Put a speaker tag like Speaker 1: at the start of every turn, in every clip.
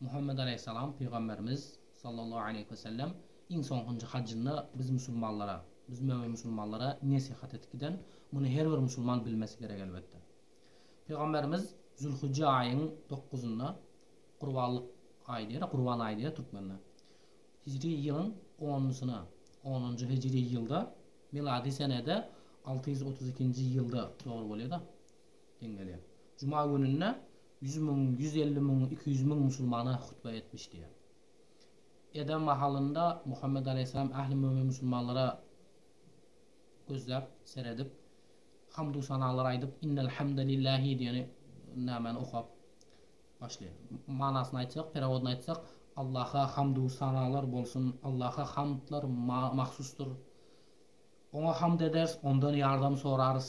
Speaker 1: Muhammet aleýhissalam pygamberimiz, sallallahu aleýhi we sellem, iň soňkunjy hajjynda biz musulmanlara, biz mömin musulmanlara nesihat edip giden, muny her bir musulman bilmesi gerek elbetde. Pygamberimiz Zülhijje aýyň dokuzynda, gurbanlyk aýy diýer, gurban aýy diýer türkmenler, hijri ýylyň onnusuna, onunjy hijri ýylda, milady senede alty ýüz otuz ikinji ýylda dogry bolýar-da, deň gelýär. Juma gününde Ýüz müň, ýüz elli müň, iki ýüz müň musulmana hutbe etmiş diýýär. Edem mahalynda Muhammet alaýhyssalam ähli mömin musulmanlara gözläp, seredip, hamdu sanalar aýdyp, Innel hamde lillahi diýen nämäni okap başlaýar. Manasyny aýtsak, perewodyny aýtsak, Allaha hamdu sanalar bolsun, Allaha hamdlar mahsusdyr. Oňa hamd ederis, ondan ýardam sorarys.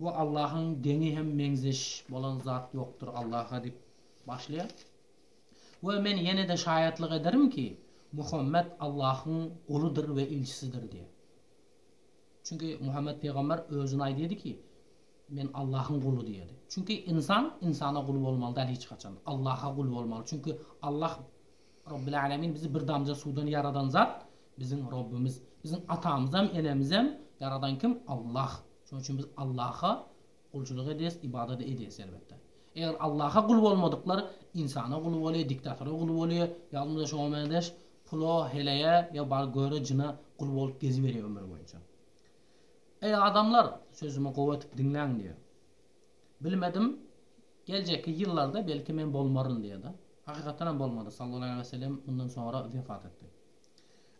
Speaker 1: Bu Allahyň deňi hem meňzeş bolan zat ýokdur Allaha diýip başlaýar. We men ýene-de şaýatlyk ederim ki, Muhammet Allahyň guludyr we ilçisidir diýýär. Çünki Muhammet pygamber özüni aýdyýardy ki, Men Allahyň guly diýýärdi. Çünki ynsan ynsana gul bolmaly däl hiç haçan. Allaha gul bolmaly. Çünki Allah Robbil Alemin bizi bir damja suwdan ýaradan zat biziň Robbimiz. Biziň atamyzam, enemizem ýaradan kim? Allah. Şonuň üçin biz Allaha gulçulyk edýäs, ybadat edýäs elbetde. Eger Allaha gul bolmadyklar ynsana gul bolýar, diktatora gul bolýar, ýagny şoňa meňzeş pula, heleýe ýa bar göre jyna gul bolup geziberýär ömür boýunça. Eý adamlar, sözümi gowy edip diňläň diýýär. Bilmedim, geljekki ýyllarda belki men bolmaryn diýýärdi. Hakykatdanam bolmady, sallallahu aleýhi we sellem mundan soňra wefat etdi.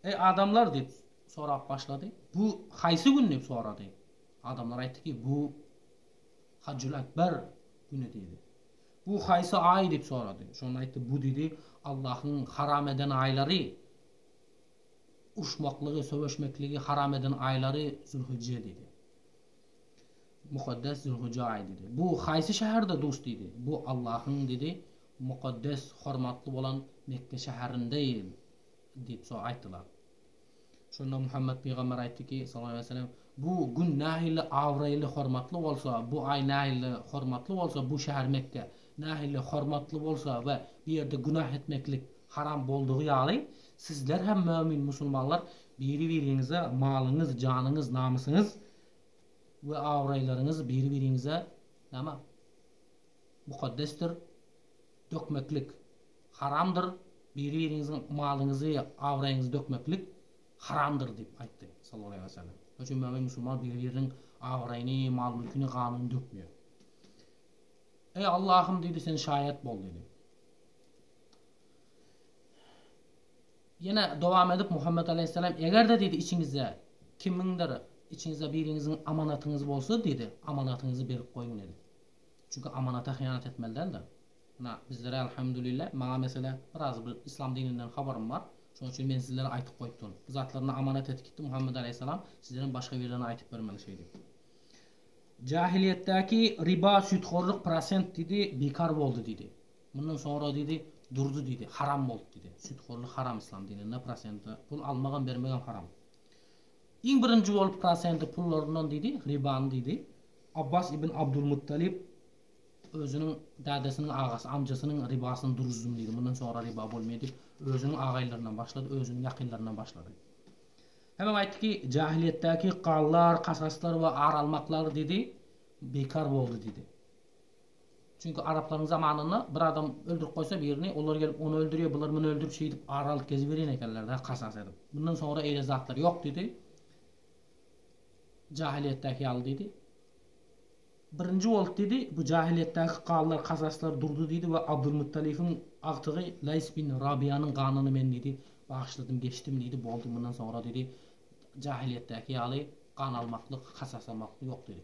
Speaker 1: Eý, adamlar diýip, sorap başlady. Bu haýsy gün diýip sorady. Adamlar aýtdy ki, bu Hajjul Akbar güni diýdi. Bu haýsy aý diýip sorady. Şonda aýtdy, bu diýdi, Allahyň haram eden aýlary, urşmaklygy, söweşmekligi haram eden aýlary Zülhijje diýdi. Mukaddes Zülhuja aýy diýdi. Bu haýsy şäherde duş diýdi. Bu Allahyň diýdi, mukaddes, hormatly bolan Mekge şäherinde diýip so aýtdylar. Şonda Muhammet pygamber aýtdyki, sallallahu aleýhi weselem, Bu gün nähili abraýly, hormatly bolsa, bu aý nähili hormatly bolsa, bu şäher Mekge nähili hormatly bolsa we bu ýerde günah etmeklik haram boldugy ýaly, sizler hem mömin musulmanlar Biri-biriňize malyňyz, janyňyz, namysyňyz we abraýlaryňyz biri-biriňize näme? Mukaddesdir. Dökmeklik. Haramdyr. Biri-biriňiziň malyňyzy, abraýyňyzy dökmeklik haramdyr diýip aýtdy, sallallahu aleýhi wesellem. Şonuň üçin mömin musulman biri-biriniň abraýyny, mal-mülkini, ganyny dökmeýär. Eý, Allahym diýdi, sen şaýat bol diýdi. Ýene dowam edip Muhammet alaýhyssalam, Eger-de diýdi, içiňizde kimiňdir, içiňizde biriňiziň amanatyňyz bolsa diýdi, amanatyňyzy berip goýuň diýdi. Çünki amanata hyýanat etmeli däldir. Ynha, bizlere Alhamdulillah, maňa meselä biraz bir yslam dininden habarym bar. Şonuň üçin men sizlere aýtyp goýup durun. Bu zatlar ynha amanat edip gitdi Muhammet alaýhyssalam, sizlerem başga birine aýtyp bermeli şeý diýip. Jahiliýetdäki riba, süýthorluk, prosent diýdi, bikar boldy diýdi. Mundan soňra diýdi, Durdy diýdi, haram boldy diýdi. Süthorlyk haram yslam dininde prosente pul almagam bermegem haram. Iň birinji bolup prosente pullaryndan diýdi, ribany diýdi, Abbas ibn Abdulmuttalib özüniň dädesiniň agasy, amjasynyň ribasyny duruzdym diýdi, mundan soňra riba bolmaýar diýip, özüniň agaýlaryndan başlady, özüniň ýakynlaryndan başlady. Hemen aýtdy ki, jahiliýetdäki gallar, kasaslar we ar almaklar diýdi, bikar boldy diýdi. Çünki araplaryň zamanynda bir adam öldürip goýsa birini, olar gelip ony öldürýär, bular muny öldürip şeýdip ar alyp geziberýän ekenler-dä kasas edip. Mundan soňra eýle zatlar ýok diýdi. Jahylyýetdäki ýaly diýdi. Birinji bolup diýdi, bu jahylyýetdäki galylar, kasaslar durdy diýdi we Abdulmuttalybyň agtygy Laýs bin Rabyýanyň ganyny men diýdi, bagyşladym, geçdim diýdi, boldy, mundan soňra diýdi, jahylyýetdäki ýaly gan almaklyk, kasas almaklyk ýok diýdi.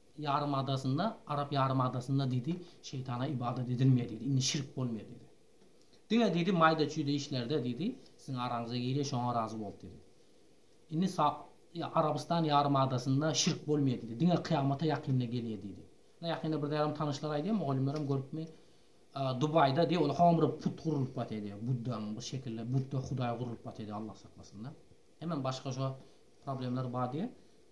Speaker 1: ýarymadasynda, arap ýarymadasynda diýdi, şeýtana ybadat edilmeýär diýdi, indi şirk bolmaýar diýdi. Diňe diýdi, maýda-çüýde işlerde diýdi, siziň araňyza girýär, şoňa razy bolup diýdi. Indi sa Arabystan ýarymadasynda şirk bolmaýar diýdi, diňe kyýamata ýakynda gelýär diýdi. Ynha ýakynda bir zärim tanyşlar aýdýar, mugallymlaram görüpmi, Dubaýda diýdi, ol hamr put gurlup bar diýdi, buddanyň bir şekilde, budda hudaý gurlup bar diýdi, Allah saklasyn-da. Hemem başga şo problemler bar diýdi.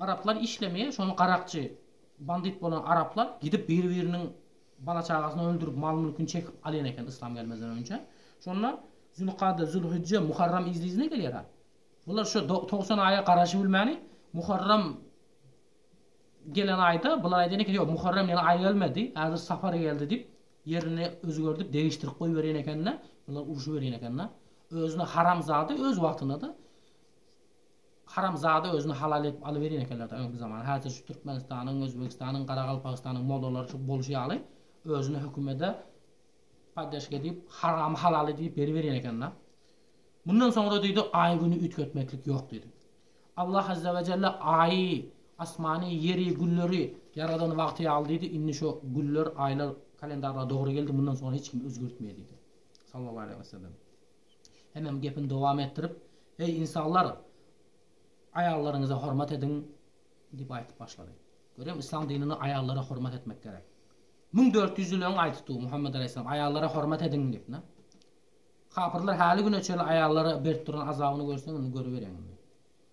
Speaker 1: Araplar işlemeýär şony garakçy bandit bolan araplar gidip bir biriniň bala çagasyny öldürip mal mülkini çekip alýan eken yslam gelmezden önje şonda zülkada zülhijje muharram yzly yzyna gelýär ha bular şo togsan aýa garaşybilmäni muharram gelen aýda bular aýdan eken ýok muharram ýene aý gelmedi häzir safar geldi dip ýerini özgerdip degişdirip goýberýän ekende bular uruşyberýän ekende özüne haramzada öz wagtynada Haramzada özüni halal edip alyberýän ekenler-dä öňki zaman. Häzir şu Türkmenistanyň, Özbegistanyň, Garagalpagystanyň mollalary şu boluşy ýaly özüni hökümede poddeşka edip, haramy halal edip beriberýän eken-dä. Mundan soňra diýdi, aý-güni üýtgetmeklik ýok diýdi. Allah azza we jelle aýy, asmany, ýeri, gülleri ýaradan wagty ýaly diýdi, indi şu güller, aýlar kalendarlar dogry geldi, mundan soňra hiç kim özgertmeýär diýdi. Sallallahu aleýhi we sellem. Hemem gepini dowam etdirip, Eý, ynsanlar! Aýallaryňyza hormat ediň! diýip aýdyp başlady. Görýäň, yslam dininde aýallara hormat etmek gerek. Müň dört ýüz ýyl öň aýdypdy bu Muhammet alaýhyssalam, Aýallara hormat ediň! diýip, ine. Kapyrlar häli güne çenli aýallara berip duran azabyny görseň, indi görüberýäň indi.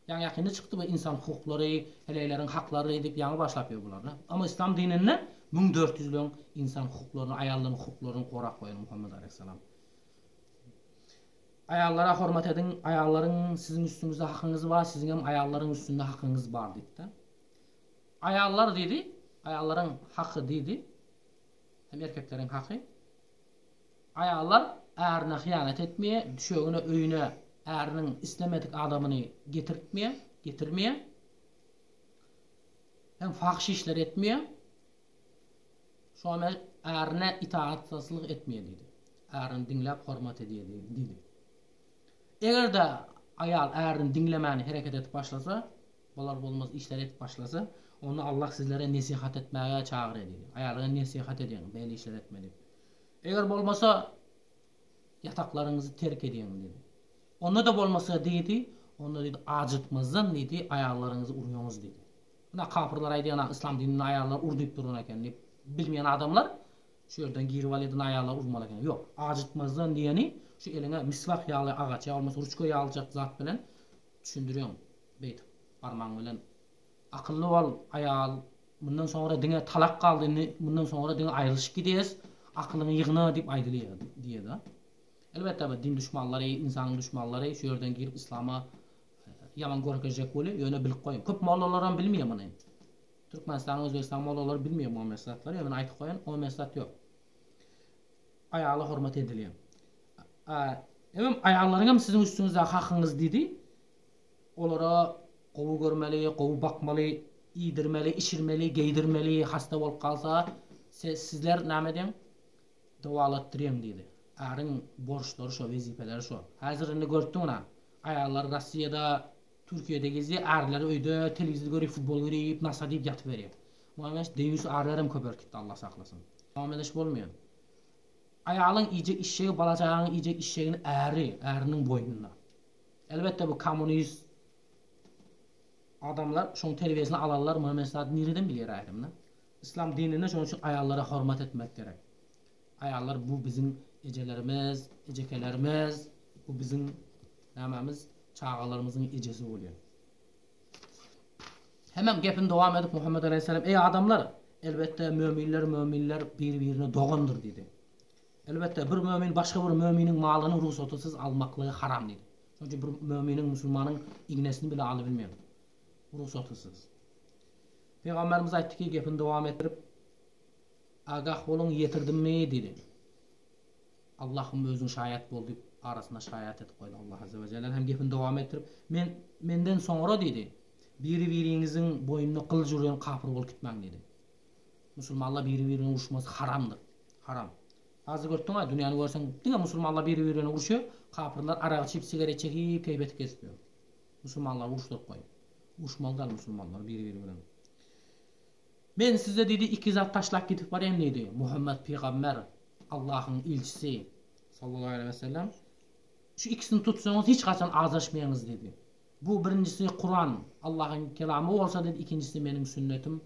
Speaker 1: Ýaňy ýakynda çykdy bu ynsan hukuklary, heleýleriň haklary diýip ýaňy başlap ýör bular, ine. Emma yslam dininde müň dört ýüz ýyl öň ynsan hukuklaryny, aýallaryň hukuklaryny gorap goýan Muhammet alaýhyssalam. Aýallara hormat ediň, aýallaryň siziň üstüňizde hakyňyz bar, siziňem aýallaryň üstünde hakyňyz bar diýipdir. Aýallar diýdi, aýallaryň haky diýdi, hem erkekleriň haky. Aýallar ärine hyýanat etmeýär, düşegine öýüne äriniň islemedik adamyny getirtmeýär, getirmeýär. Hem fahyş işleri etmeýär. Şonda ärine itaatsyzlyk etmeýär diýdi. Ärini diňläp hormat edýär diýdi. Eger-de aýal ärini diňlemän hereket edip başlasa, bolar-bolmaz işleri edip başlasa, onda Allah sizlere nesihat etmäge çagyrýar diýdi. Aýalyňa nesihat ediň, beýle işleri etme diýip. Eger bolmasa, ýataklaryňyzy terk ediň diýdi. Onda-da bolmasa diýdi, onda diýdi, ajykmazdan diýdi, aýallaryňyzy urýaňyz diýdi. Ynha kapyrlar aýdýan yslam dinini aýallar ur diýip duran eken diýip bilmeýän adamlar şu ýerden girip al edin aýallar urmaly eken ýok ajykmazdan diýeni şu eliňe miswak ýaly agaç ýa bolmasa ruçka ýalyjak zat bilen düşündirýäň beýdip barmagyň bilen akylly bol aýal mundan soňra diňe talak galdy indi mundan soňra diňe aýrylyşyp gidýäs akylyňy ýygna diýip aýdylýa diýeda elbetde bu din duşmanlary ynsanyň duşmanlary şu ýerden girip yslama Ýaman görkezjek weli ýöne bilip goýun. Köp mollalaram bilmeýär muny. Türkmenistan Özbegistan mollalary bilmeýär muňa meňzeş zatlary ýöne men aýtyp goýan oňa meňzeş zat ýok. Aýala hormat edilýär. A Emem aýallaryň hem siziň üstüňizde hakyňyz diýdi. Olara gowy görmeli, gowy bakmaly, iýdirmeli, içirmeli, geýdirmeli, hasta bolup galsa se sizler näme ediň? Dowalatdyrýaň diýdi. Äriň borçlary şo, wezipeleri şo. Häzir indi görüpdiňiz-ä. Aýallar Rossiýada, Türkiýede gezýär, ärleri öýde telewizor görip, futbol görip, nasa diýip ýatyberýär. Muhammet Aş deýýus ärler hem köpelip gitdi Allah saklasyn. Muhammet Aş bolmaýan. Aýalyň iýjek işşegi bala çagaňyň iýjek işşegini äri, äriniň boýnunda. Elbetde bu kommunist adamlar şoň terbiýesini alanlar Muhammet Aş zat nireden bilýär aýdym da. Yslam dininde şoň üçin aýallara hormat etmek gerek. Aýallar bu biziň ejelerimiz, ejekelerimiz, bu biziň nämemiz, çagalarymyzyň ejesi bolýar. Hemem gepini dowam edip Muhammet alaýhyssalam, Eý adamlar! Elbetde, möminler, möminler bir-birine dogandyr diýdi. Elbetde, bir mömin başga bir möminiň malyny rugsatysyz almaklygy haram diýdi. Şonuň üçin bir möminiň, musulmanyň ignesini bile alybilmeýär rugsatysyz. Pygamberimiz aýtdyky, gepini dowam etdirip, Agah boluň, ýetirdimmi? diýdi. Allahym özüň şaýat bol diýip, arasyna şaýat edip goýdy. Allah azza we jelle hem gepini dowam etdirip, Men, menden soňra, diýdi, biri-biriňiziň boýnuna gylyç urýan kapyr bolup gitmäň diýdi. Musulmanlar biri-birine uruşmasy haramdyr. Haram. Hazir görüp durma, dünýäni görseň, diňe musulmanlar biri-birine uruşýar, kapyrlar arak içip, sigaret çekip, keýpeti kesip ýör. Musulmanlary uruşdyryp goý. Uruşmaly däl musulmanlar biri-biri bilen. Men size diýdi iki zat taşlap gidip barýan diýdi, Muhammet pygamber, Allahyň ilçisi, sallallahu aleýhi wesellem, şu ikisini tutsaňyz hiç haçan azaşmaýaňyz diýdi. Bu birinjisi Kuran, Allahyň kelamy bolsa diýdi, ikinjisi meniň sünnetim,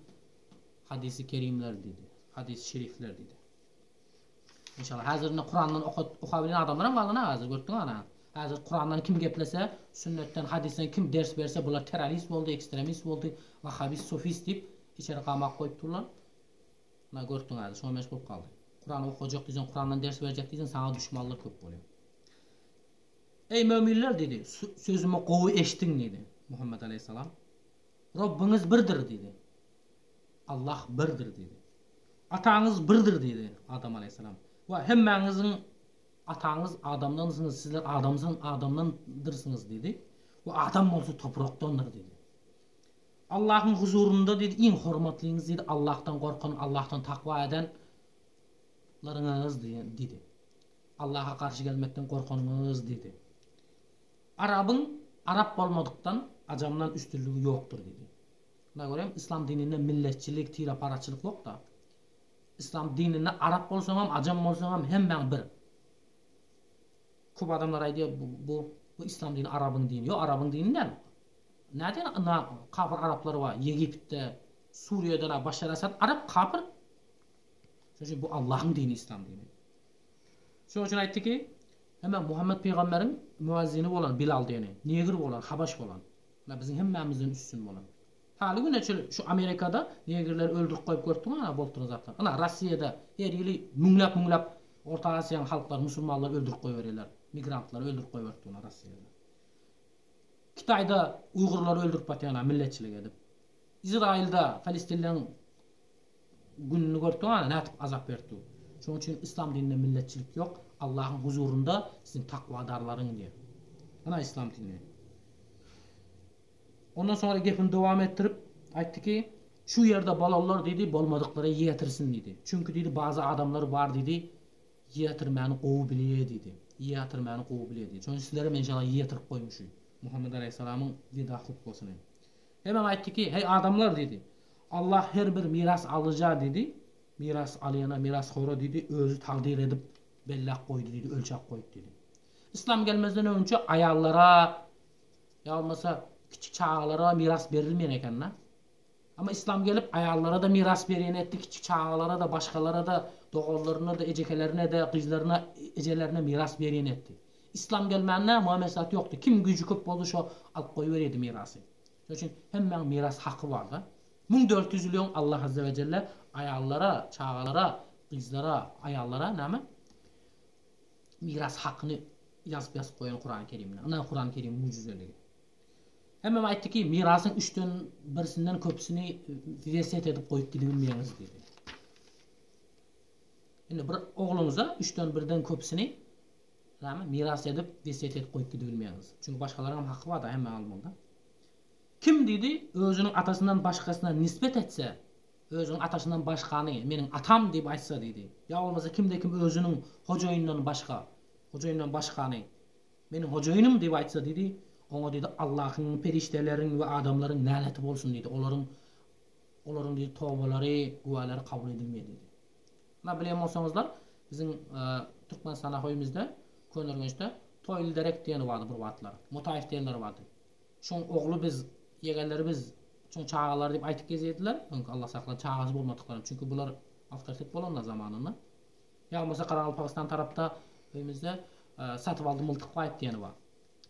Speaker 1: hadysy kerimler diýdi, hadysy şerifler diýdi. Enşalla hazir indi kurandan okat okabilen adamlaram galana hazir gördüňa ana hazir kurandan kim geplese sünnetden hadisden kim ders berse bular terrorist boldy ekstremist boldy wahabist sufist diyip içeri gamak goyup durlar na gördüň hazir şoňa meş bolup galdy kuran okajak diysen kurandan ders berjek diysen sana duşmanlar köp bolýar Eý möminler diýdi, sözümi gowy eşdiň diýdi Muhammed aleyhissalam. Robbiňiz birdir diýdi. Allah birdir diýdi. Ataňyz birdir diýdi, Adam alaýhyssalam. Wah, hemmäňiziň ataňyz Adamdansyňyz, sizler Adamsyň, Adamdandyrsyňyz diýdi. We Adam bolsa toprakdandyr diýdi. Allahyň huzurynda diýdi, iň hormatlyňyz diýdi, Allahdan gorkan, Allahdan takwa eden laryňyz diýdi. Allaha garşy gelmekden gorkanyňyz diýdi. Arabyň arap bolmadykdan, ajamdan üstünligi ýokdur diýdi. Şuna görem yslam dininde milletçilik, tireparaçylyk ýokda. Yslam dininde arap bolsaňam, ajam bolsaňam hemmäň bir. Köp adamlar aýdýar bu bu bu yslam dini arabyň dini. Ýok arabyň dini däl. Nädýän na kapyr araplar bar Ýegiptde, Suriýada na Başar Asad arap kapyr. Şonuň üçin bu Allahyň dini yslam dini. Şonuň üçin aýtdy ki, hemem Muhammet pygamberiň müezzini bolan Bilal diýeni, negr bolan, habaş bolan. Ýa biziň hemmämizden üstün bolan. Haly güne çenli şu Amerikada negirleri öldürip goýup görüpdiňiz ana boltuny zatlar. Ana Rossiýada her ýyly müňläp müňläp Orta Aziýanyň halklary musulmanlary öldürip goýberýärler. Migrantlary öldürip goýberipdi ana Rossiýada. Kitaýda uýgurlary öldürip batýana milletçilik edip. Izraýylda Palestinleň Gününi görüpdiňaňa nädip azap berip dur. Şoň üçin yslam dininde milletçilik ýok, Allahyň huzurynda siziň takwadarlaryň diýen. Ana yslam dini. Ondan soňra gepini dowam etdirip aýtdy ki, şu ýerde bolalar diýdi bolmadyklara ýetirsin diýdi. Çünki diýdi bazy adamlar bar diýdi ýetirmäni gowy bilýä diýdi. Ýetirmäni gowy bilýä diýdi. Şoň üçin sizlerem enşalla ýetirip goýmuş Muhammet alaýhyssalamyň weda hutbasyny. Emma aýtdy ki, Heý, adamlar! diýdi. Allah her bir miras alyja, diýdi, miras alyana, mirashora, diýdi, Özi takdyr edip, belläp goýdy, diýdi, ölçäp goýdy, diýdi. Yslam gelmezden öňçe aýallara ýa bolmasa kiçi çagalara miras berilmeýän eken-dä. Emma Yslam gelip, aýallara-da miras berýän etdi, kiçi çagalara-da, başgalara-da, doganlaryna-da, ejekelerine-de, gyzlaryna, ejelerine miras berýän etdi. Yslam gelmände muňa meslahat ýokdy. Kim güýji köp boldy şo alyp goýberýärdi mirasy. Şonuň üçin hemmäň miras haky barda. Müň dört ýüz ýyl öň Allah azze we jelle aýallara, çagalara, gyzlara, aýallara näme? Miras hakyny ýazyp ýazyp goýan Kurany Kerimde. Ynha Kurany Kerimiň müjüzeligi. Hemmäm aýtdyki mirasyň üçden birsinden köpüsini size set edip goýup gidibilmeýäňiz diýdi. Indi bir ogluňyza üçden birden köpüsini Näme, miras edip, wesýet edip goýup gidibilmeýäňiz. Çünki başgalaryňam haky bar-da, hemmäň almalyda. Kim, diýdi, özüniň atasyndan başgasyna nisbet etse, özüniň atasyndan başgany, meniň atam diýip aýtsa, diýdi, ýa bolmasa kimde-kim özüniň hojaýynyndan başga, hojaýyndan başgany, meniň hojaýynym diýip aýtsa, diýdi, oňa, diýdi, Allahyň, perişdeleriň we adamlaryň näleeti bolsun, diýdi, olaryň, olaryň, diýdi, tobalary, güwälary kabul edilmeýär, diýdi. Mundan bilen bolsaňyzlar, biziň Türkmenistanda hoýumyzda, Köneürgençde Toýly derek diýeni bardy bir wagtlar. Motaýew diýenleri bardy. Şoň ogly biz, ýegenleri biz, şoň çagalary diýip aýtyp gezýärdiler. Öňki Allah saklasyn, çagasy bolmadyklaram. Çünki bular awtoritet bolanlar zamanynda. Ýa bolmasa Garagalpagystan tarapda öýmüzde Satybaldy Myltykbaýew diýeni bar.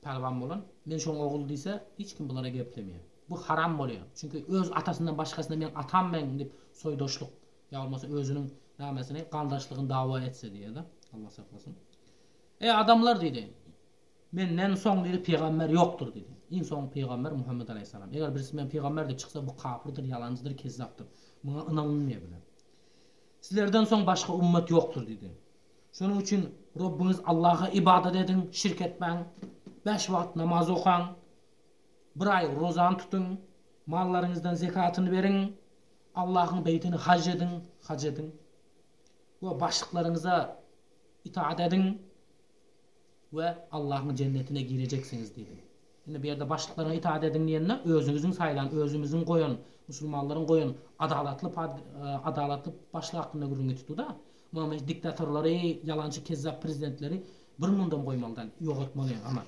Speaker 1: Pälwan bolan. Men şoň ogly diýse, hiç kim bulara geplemeýär. Bu haram bolýar. Çünki öz atasyndan başgasyna meň atam men diýip soýdaşlyk Ýa bolmasa özüniň nämesyny, garyndaşlygyny dawa etse diýýärler. Allah saklasyn. Eý, adamlar! diýdi. Menden soň diýdi, pygamber ýokdur diýdi. Iň soňky pygamber Muhammet alaýhyssalam. Eger birisi men pygamber diýip çyksa, bu kapyrdyr, ýalanjydyr, kezzapdyr. Muňa ynanylmaýar bile. Sizlerden soň başga ummet ýokdur diýdi. Şonuň üçin Robbyňyz Allaha ybadat ediň, şirk etmäň. Bäş wagt namaz okaň. Bir aý rozany tutuň. Mallaryňyzdan zekatyny beriň. Allahyň beýtini haj ediň, haj ediň, we başlyklaryňyza itaat ediň we Allahyň jennetine girejeksiňiz diýdim. Indi bu ýerde başlyklaryňa itaat ediň diýende özüňiziň saýlan, özümiziň goýan, musulmanlaryň goýan adalatly pad, adalatly başlyk hakynda gürrüňi tutdy-da, muňam hiç diktatorlary, ýalançy kezzap prezidentleri bir mundam goýmalydan, ýogatmaly, aman.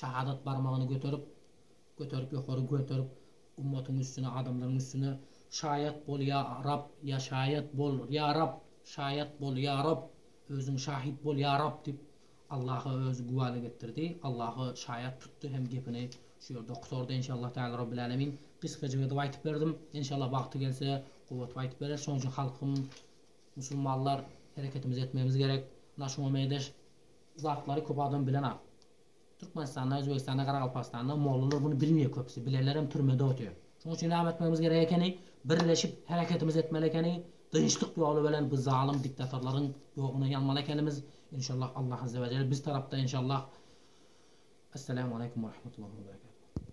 Speaker 1: Şahadat barmagyny göterip, göterip, ýokary göterip, ummatyň üstüne, adamlaryň üstüne, Şaýat bol, ýa Rab, ýa şaýat bol, ýa Rab, şaýat bol, ýa Rab, özüň şahit bol, ýa Rab diýip, Allaha özi güwälik etdirdi, Allahy şaýat tutdy hem gepini şu ýerde gutardy. Enşallah Tala Rabbil Alemin gysgajyk edip aýtyp berdim. Enşallah wagty gelse, gowudyp aýtyp bereris. Şonuň üçin halkym, musulmanlar hereketimizi etmegimiz gerek. Naşyňa meýdaş Bu zatlary köp adam bilenok. Türkmenistanda, Özbegistanda, Garagalpagystanda mollalar muny bilmeýär köpüsi. Bilenlerem türmede otyr. Şonuň üçin näme etmegimiz gerek ekeni? Birleşip hereketimizi etmeli ekeni. Dynçlyk ýoly bilen bu zalym diktatorlaryň ýoguna ýalmaly ekenimiz. Inşallah Allah Azzewajel biz tarapda inşallah. Essalamu Aleýkum Werahmetullahi Weberekatuh.